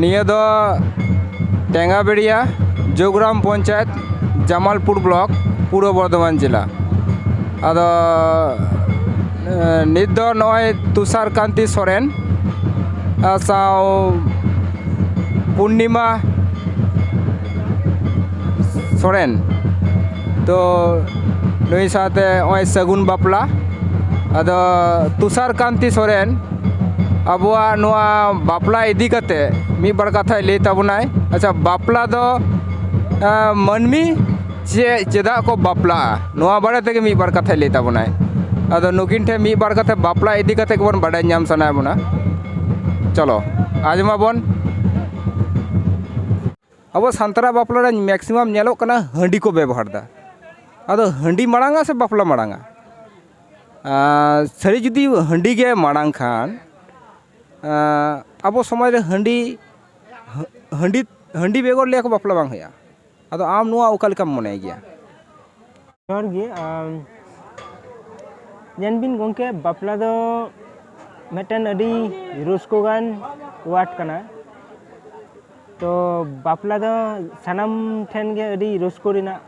ᱱᱤᱭᱟᱹ ᱫᱚ ᱴᱮᱸᱜᱟ ᱵᱮᱲᱤᱭᱟ ᱡᱳᱜᱽᱨᱟᱢ ᱯᱚᱧᱪᱟᱭᱮᱛ ᱡᱟᱢᱟᱞᱯᱩᱨ ᱵᱞᱚᱠ ᱯᱩᱨᱵᱚ ᱵᱚᱨᱫᱷᱚᱢᱟᱱ ᱡᱮᱞᱟ ᱟᱫᱚ ᱱᱤᱛ ᱫᱚ ᱱᱚᱜᱼᱚᱭ ᱛᱩᱥᱟᱨ ᱠᱟᱱᱛᱤ ᱥᱚᱨᱮᱱ ᱥᱟᱶ ᱯᱩᱨᱱᱤᱢᱟ ᱥᱚᱨᱮᱱ ᱛᱚ ᱱᱩᱭ ᱥᱟᱶᱛᱮ ᱱᱚᱜᱼᱚᱭ ᱥᱟᱹᱜᱩᱱ ᱵᱟᱯᱞᱟ ᱟᱫᱚ ᱛᱩᱥᱟᱨ ᱠᱟᱱᱛᱤ ᱥᱚᱨᱮᱱ ᱟᱵᱚᱣᱟᱜ ᱱᱚᱣᱟ ᱵᱟᱯᱞᱟ ᱤᱫᱤ ᱠᱟᱛᱮ ᱢᱤᱫ ᱵᱟᱨ ᱠᱟᱛᱷᱟᱭ ᱞᱟᱹᱭ ᱛᱟᱵᱚᱱᱟᱭ ᱟᱪᱪᱷᱟ ᱵᱟᱯᱞᱟ ᱫᱚ ᱢᱟᱹᱱᱢᱤ ᱪᱮᱫ ᱪᱮᱫᱟᱜ ᱠᱚ ᱵᱟᱯᱞᱟᱜᱼᱟ ᱱᱚᱣᱟ ᱵᱟᱨᱮ ᱛᱮᱜᱮ ᱢᱤᱫ ᱵᱟᱨ ᱠᱟᱛᱷᱟᱭ ᱞᱟᱹᱭ ᱛᱟᱵᱚᱱᱟᱭ ᱟᱫᱚ ᱱᱩᱠᱤᱱ ᱴᱷᱮᱱ ᱢᱤᱫ ᱵᱟᱨ ᱠᱟᱛᱷᱟ ᱵᱟᱯᱞᱟ ᱤᱫᱤ ᱠᱟᱛᱮ ᱜᱮᱵᱚᱱ ᱵᱟᱰᱟᱭ ᱧᱟᱢ ᱥᱟᱱᱟᱭᱮᱫ ᱵᱚᱱᱟ ᱪᱚᱞᱚ ᱟᱸᱡᱚᱢ ᱟᱵᱚᱱ ᱟᱵᱚ ᱥᱟᱱᱛᱟᱲᱟᱜ ᱵᱟᱯᱞᱟ ᱨᱮ ᱢᱮᱠᱥᱤᱢᱟᱢ ᱧᱮᱞᱚᱜ ᱠᱟᱱᱟ ᱦᱟᱺᱰᱤ ᱠᱚ ᱵᱮᱵᱚᱦᱟᱨᱫᱟ ᱟᱫᱚ ᱦᱟᱺᱰᱤ ᱢᱟᱲᱟᱝᱼᱟ ᱥᱮ ᱵᱟᱯᱞᱟ ᱢᱟᱲᱟᱝᱼᱟ ᱥᱟᱹᱨᱤ ᱡᱩᱫᱤ ᱦᱟᱺᱰᱤ ᱜᱮ ᱢᱟᱲᱟᱝ ᱠᱷᱟᱱ ᱟᱵᱚ ᱥᱚᱢᱟᱡᱽ ᱨᱮ ᱦᱟᱺᱰᱤ ᱦᱟᱺᱰᱤ ᱦᱟᱺᱰᱤ ᱵᱮᱜᱚᱨ ᱞᱟᱹᱭᱟᱠᱚ ᱵᱟᱯᱞᱟ ᱵᱟᱝ ᱦᱩᱭᱩᱜᱼᱟ ᱟᱫᱚ ᱟᱢ ᱱᱚᱣᱟ ᱚᱠᱟ ᱞᱮᱠᱟᱢ ᱢᱚᱱᱮᱭ ᱜᱮᱭᱟ? ᱡᱚᱦᱟᱨ ᱜᱮ ᱧᱮᱞ ᱵᱤᱱ ᱜᱚᱝᱠᱮ ᱵᱟᱯᱞᱟ ᱫᱚ ᱢᱤᱫᱴᱮᱱ ᱟᱹᱰᱤ ᱨᱟᱹᱥᱠᱟᱹ ᱜᱟᱱ ᱳᱣᱟᱨᱰ ᱠᱟᱱᱟ ᱛᱚ ᱵᱟᱯᱞᱟ ᱫᱚ ᱥᱟᱱᱟᱢ ᱴᱷᱮᱱ ᱜᱮ ᱟᱹᱰᱤ ᱨᱟᱹᱥᱠᱟᱹ ᱨᱮᱱᱟᱜ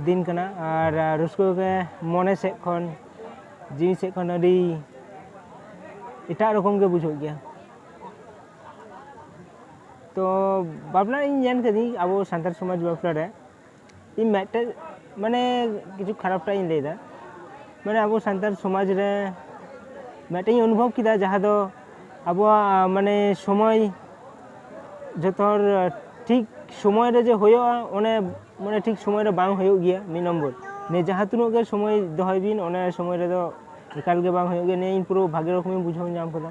ᱫᱤᱱ ᱠᱟᱱᱟ ᱟᱨ ᱨᱟᱹᱥᱠᱟᱹ ᱜᱮ ᱢᱚᱱᱮ ᱥᱮᱫ ᱠᱷᱚᱱ ᱡᱤᱣᱤ ᱥᱮᱫ ᱠᱷᱚᱱ ᱟᱹᱰᱤ ᱮᱴᱟᱜ ᱨᱚᱠᱚᱢ ᱜᱮ ᱵᱩᱡᱷᱟᱹᱜ ᱜᱮᱭᱟ ᱛᱚ ᱵᱟᱯᱞᱟ ᱤᱧ ᱧᱮᱞ ᱠᱟᱹᱫᱟᱹᱧ ᱟᱵᱚ ᱥᱟᱱᱛᱟᱲ ᱥᱚᱢᱟᱡᱽ ᱵᱟᱯᱞᱟ ᱨᱮ ᱤᱧ ᱢᱤᱫᱴᱮᱡ ᱢᱟᱱᱮ ᱠᱤᱪᱷᱩ ᱠᱷᱟᱨᱟᱯᱴᱟᱜ ᱤᱧ ᱞᱟᱹᱭᱫᱟ ᱢᱟᱱᱮ ᱟᱵᱚ ᱥᱟᱱᱛᱟᱲ ᱥᱚᱢᱟᱡᱽ ᱨᱮ ᱢᱤᱫᱴᱮᱡ ᱤᱧ ᱚᱱᱩᱵᱷᱚᱵᱽ ᱠᱮᱫᱟ ᱡᱟᱦᱟᱸ ᱫᱚ ᱟᱵᱚᱣᱟᱜ ᱢᱟᱱᱮ ᱥᱚᱢᱚᱭ ᱡᱚᱛᱚ ᱦᱚᱲ ᱴᱷᱤᱠ ᱥᱚᱢᱚᱭ ᱨᱮ ᱡᱮ ᱦᱩᱭᱩᱜᱼᱟ ᱚᱱᱮ ᱢᱟᱱᱮ ᱴᱷᱤᱠ ᱥᱚᱢᱚᱭ ᱨᱮ ᱵᱟᱝ ᱦᱩᱭᱩᱜ ᱜᱮᱭᱟ ᱢᱤᱫ ᱱᱚᱢᱵᱚᱨ ᱱᱤᱭᱟᱹ ᱡᱟᱦᱟᱸ ᱛᱤᱱᱟᱹᱜ ᱜᱮ ᱥᱚᱢᱚᱭ ᱫᱚᱦᱚᱭ ᱵᱤᱱ ᱚᱱᱟ ᱥᱚᱢᱚᱭ ᱨᱮᱫᱚ ᱮᱠᱟᱞ ᱜᱮ ᱵᱟᱝ ᱦᱩᱭᱩᱜ ᱜᱮᱭᱟ ᱱᱤᱭᱟᱹ ᱤᱧ ᱯᱩᱨᱟᱹ ᱵᱷᱟᱜᱮ ᱨᱚᱠᱚᱢᱤᱧ ᱵᱩᱡᱷᱟᱹᱣ ᱧᱟᱢ ᱠᱮᱫᱟ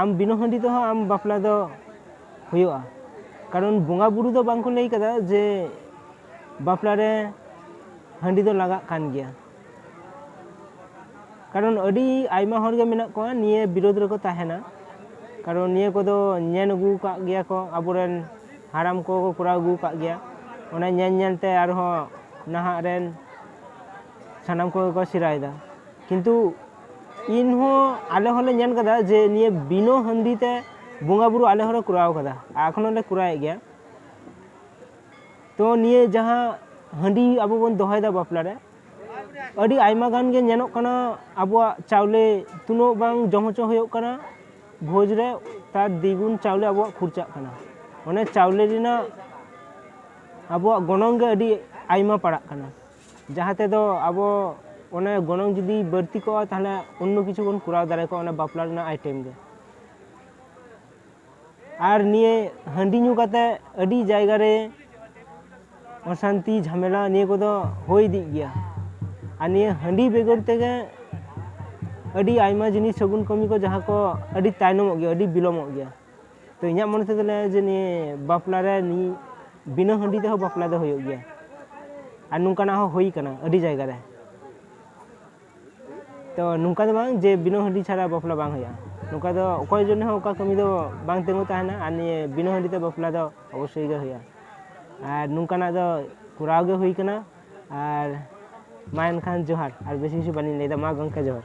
ᱟᱢ ᱵᱤᱱᱟᱹ ᱦᱟᱺᱰᱤ ᱛᱮᱦᱚᱸ ᱟᱢ ᱵᱟᱯᱞᱟ ᱫᱚ ᱦᱩᱭᱩᱜᱼᱟ ᱠᱟᱨᱚᱱ ᱵᱚᱸᱜᱟ ᱵᱩᱨᱩ ᱫᱚ ᱵᱟᱝ ᱠᱚ ᱞᱟᱹᱭ ᱠᱟᱫᱟ ᱡᱮ ᱵᱟᱯᱞᱟ ᱨᱮ ᱦᱟᱺᱰᱤ ᱫᱚ ᱞᱟᱜᱟᱜ ᱠᱟᱱ ᱜᱮᱭᱟ ᱠᱟᱨᱚᱱ ᱟᱹᱰᱤ ᱟᱭᱢᱟ ᱦᱚᱲ ᱜᱮ ᱢᱮᱱᱟᱜ ᱠᱚᱣᱟ ᱱᱤᱭᱟᱹ ᱵᱤᱨᱳᱫ ᱨᱮᱠᱚ ᱛᱟᱦᱮᱱᱟ ᱠᱟᱨᱚᱱ ᱱᱤᱭᱟᱹ ᱠᱚᱫᱚ ᱧᱮᱞ ᱟᱹᱜᱩ ᱠᱟᱜ ᱜᱮᱭᱟ ᱠᱚ ᱟᱵᱚᱨᱮᱱ ᱦᱟᱲᱟᱢ ᱠᱚ ᱠᱚᱨᱟᱣ ᱟᱹᱜᱩ ᱠᱟᱜ ᱜᱮᱭᱟ ᱚᱱᱟ ᱧᱮᱞ ᱧᱮᱞ ᱛᱮ ᱟᱨᱦᱚᱸ ᱱᱟᱦᱟᱜ ᱨᱮᱱ ᱥᱟᱱᱟᱢ ᱠᱚᱜᱮ ᱠᱚ ᱥᱮᱬᱟᱭᱮᱫᱟ ᱠᱤᱱᱛᱩ ᱤᱧ ᱦᱚᱸ ᱟᱞᱮ ᱦᱚᱸᱞᱮ ᱧᱮᱞ ᱠᱟᱫᱟ ᱡᱮ ᱱᱤᱭᱟᱹ ᱵᱤᱱᱟᱹ ᱦᱟᱺᱰᱤ ᱛᱮ ᱵᱚᱸᱜᱟ ᱵᱩᱨᱩ ᱟᱞᱮ ᱦᱚᱸᱞᱮ ᱠᱚᱨᱟᱣ ᱠᱟᱫᱟ ᱟᱨ ᱮᱠᱷᱚᱱ ᱦᱚᱸᱞᱮ ᱠᱚᱨᱟᱣᱮᱫ ᱜᱮᱭᱟ ᱛᱚ ᱱᱤᱭᱟᱹ ᱡᱟᱦᱟᱸ ᱦᱟᱺᱰᱤ ᱟᱵᱚ ᱵᱚᱱ ᱫᱚᱦᱚᱭᱮᱫᱟ ᱵᱟᱯᱞᱟ ᱨᱮ ᱟᱹᱰᱤ ᱟᱭᱢᱟ ᱜᱟᱱ ᱜᱮ ᱧᱮᱞᱚᱜ ᱠᱟᱱᱟ ᱟᱵᱚᱣᱟᱜ ᱪᱟᱣᱞᱮ ᱛᱤᱱᱟᱹᱜ ᱵᱟᱝ ᱡᱚᱢ ᱦᱚᱪᱚ ᱦᱩᱭᱩᱜ ᱠᱟᱱᱟ ᱵᱷᱚᱡᱽ ᱨᱮ ᱛᱟᱨ ᱫᱤᱜᱩᱱ ᱪᱟᱣᱞᱮ ᱟᱵᱚᱣᱟᱜ ᱠᱷᱚᱨᱪᱟᱜ ᱠᱟᱱᱟ ᱚᱱᱮ ᱪᱟᱣᱞᱮ ᱨᱮᱱᱟᱜ ᱟᱵᱚᱣᱟᱜ ᱜᱚᱱᱚᱝ ᱜᱮ ᱟᱹᱰᱤ ᱟᱭᱢᱟ ᱯᱟᱲᱟᱜ ᱠᱟᱱᱟ ᱡᱟᱦᱟᱸ ᱛᱮᱫᱚ ᱟᱵᱚ ᱚᱱᱮ ᱜᱚᱱᱚᱝ ᱡᱩᱫᱤ ᱵᱟᱹᱲᱛᱤ ᱠᱚᱜᱼᱟ ᱛᱟᱦᱚᱞᱮ ᱚᱱᱱᱚ ᱠᱤᱪᱷᱩ ᱵᱚᱱ ᱠᱚᱨᱟᱣ ᱫᱟᱲᱮ ᱠᱚᱜᱼᱟ ᱚᱱᱟ ᱵᱟᱯᱞᱟ ᱨᱮᱱᱟᱜ ᱟᱭᱴᱮᱢ ᱫᱚ ᱟᱨ ᱱᱤᱭᱟᱹ ᱦᱟᱺᱰᱤ ᱧᱩ ᱠᱟᱛᱮ ᱟᱹᱰᱤ ᱡᱟᱭᱜᱟ ᱨᱮ ᱚᱥᱟᱱᱛᱤ ᱡᱷᱟᱢᱮᱞᱟ ᱱᱤᱭᱟᱹ ᱠᱚᱫᱚ ᱦᱩᱭ ᱤᱫᱤᱜ ᱜᱮᱭᱟ ᱟᱨ ᱱᱤᱭᱟᱹ ᱦᱟᱺᱰᱤ ᱵᱮᱜᱚᱨ ᱛᱮᱜᱮ ᱟᱹᱰᱤ ᱟᱭᱢᱟ ᱡᱤᱱᱤᱥ ᱥᱟᱹᱜᱩᱱ ᱠᱟᱹᱢᱤ ᱠᱚ ᱡᱟᱦᱟᱸ ᱠᱚ ᱟᱹᱰᱤ ᱛᱟᱭᱱᱚᱢᱚᱜ ᱜᱮᱭᱟ ᱟᱹᱰᱤ ᱵᱤᱞᱚᱢᱚᱜ ᱜᱮᱭᱟ ᱛᱚ ᱤᱧᱟᱹᱜ ᱢᱚᱱᱮ ᱛᱮᱫᱚ ᱞᱟᱹᱭᱟ ᱡᱮ ᱱᱤᱭᱟᱹ ᱵᱟᱯᱞᱟ ᱨᱮ ᱱᱤᱭᱟᱹ ᱵᱤᱱᱟᱹ ᱦᱟᱺᱰᱤ ᱛᱮᱦᱚᱸ ᱵᱟᱯᱞᱟ ᱫᱚ ᱦᱩᱭᱩᱜ ᱜᱮᱭᱟ ᱟᱨ ᱱᱚᱝᱠᱟᱱᱟᱜ ᱦᱚᱸ ᱦᱩᱭ ᱠᱟᱱᱟ ᱟᱹᱰᱤ ᱡᱟᱭᱜᱟ ᱨᱮ ᱛᱚ ᱱᱚᱝᱠᱟ ᱫᱚ ᱵᱟᱝ ᱡᱮ ᱵᱤᱱᱟᱹ ᱦᱟᱺᱰᱤ ᱪᱷᱟᱲᱟ ᱵᱟᱯᱞᱟ ᱵᱟᱝ ᱦᱩᱭᱩᱜᱼᱟ ᱱᱚᱝᱠᱟ ᱫᱚ ᱚᱠᱚᱭ ᱡᱚᱱᱱᱮ ᱦᱚᱸ ᱚᱠᱟ ᱠᱟᱹᱢᱤ ᱫᱚ ᱵᱟᱝ ᱛᱤᱸᱜᱩ ᱛᱟᱦᱮᱱᱟ ᱟᱨ ᱱᱤᱭᱟᱹ ᱵᱤᱱᱟᱹ ᱦᱟᱺᱰᱤ ᱛᱮ ᱵᱟᱯᱞᱟ ᱫᱚ ᱚᱵᱚᱥᱥᱳᱭ ᱜᱮ ᱦᱩᱭᱩᱜᱼᱟ ᱟᱨ ᱱᱚᱝᱠᱟᱱᱟᱜ ᱫᱚ ᱠᱚᱨᱟᱣ ᱜᱮ ᱦᱩᱭ ᱠᱟᱱᱟ ᱟᱨ ᱢᱟ ᱮᱱᱠᱷᱟᱱ ᱡᱚᱦᱟᱨ ᱟᱨ ᱵᱮᱥᱤ ᱠᱤᱪᱷᱩ ᱵᱟᱹᱞᱤᱧ ᱞᱟᱹᱭᱫᱟ ᱢᱟ ᱜᱚᱢᱠᱮ ᱡᱚᱦᱟᱨ